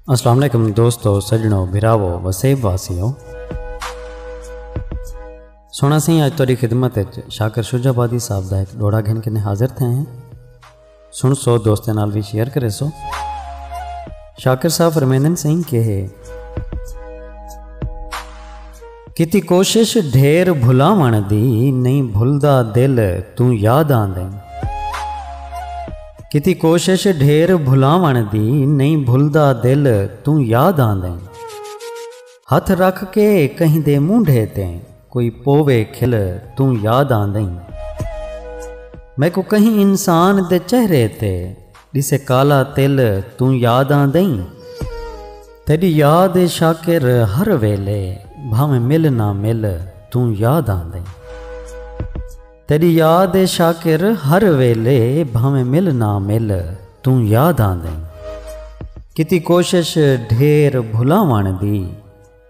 السلام علیکم دوستو سجنو بھراو وسیب واسیو سونا سی آج توری خدمت شاکر شجا بادی صاحب دا ایک ڈوڑا گھن کنے حاضر تھے ہیں سن سو دوستیں نال بھی شیئر کرے سو شاکر صاحب رمیندن سنگھ کہے کیتی کوشش ڈھیر بھلاوݨ دی نہیں بھلدا دل توں یاد آندیں کیتی کوشش ڈھیر بھلاوݨ دی نہیں بھلدا دل توں یاد آندیں ہتھ رکھ کے کہیں دے مونڈھے تے کوئی پووے کھل توں یاد آندیں میکو کہیں انسان دے چہرے تے ݙسے کالا تل توں یاد آندئیں تیݙی یاد اے شاکر ہر ویلے بھانویں مل نہ مل توں یاد آندئیں تیݙی یاد اے شاکر ہر ویلے بھانویں مل نہ مل توں یاد آندئیں کیتی کوشش ڈھیر بھلاوݨ دی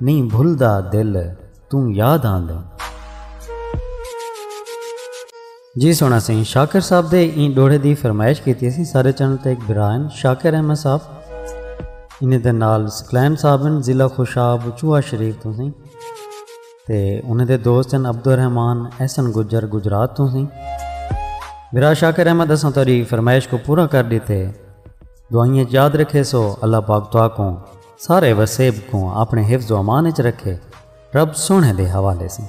نئیں بھلدا دل توں یاد آندیں۔ جی سونا سئیں شاکر صاحب دے ایں ڈوہڑے دی فرمائش کیتی اسی سارے چینل تے ایک بھرا ہن شاکر احمد صاحب انہیں دے نال سکلین صاحب ہن ضلع خوشاب چوہا شریف تو سئیں تے انہیں دے دوست ہن عبد الرحمان احسن گجر گجرات تو سئیں بھرا شاکر احمد اساں تیری فرمائش کو پورا کر دیتے دعائیں یاد رکھے سو اللہ پاک تو آکوں سارے وسیب کوں اپݨے حفظ و امان اچ رکھے، رب سوہݨے دے حوالے سیں۔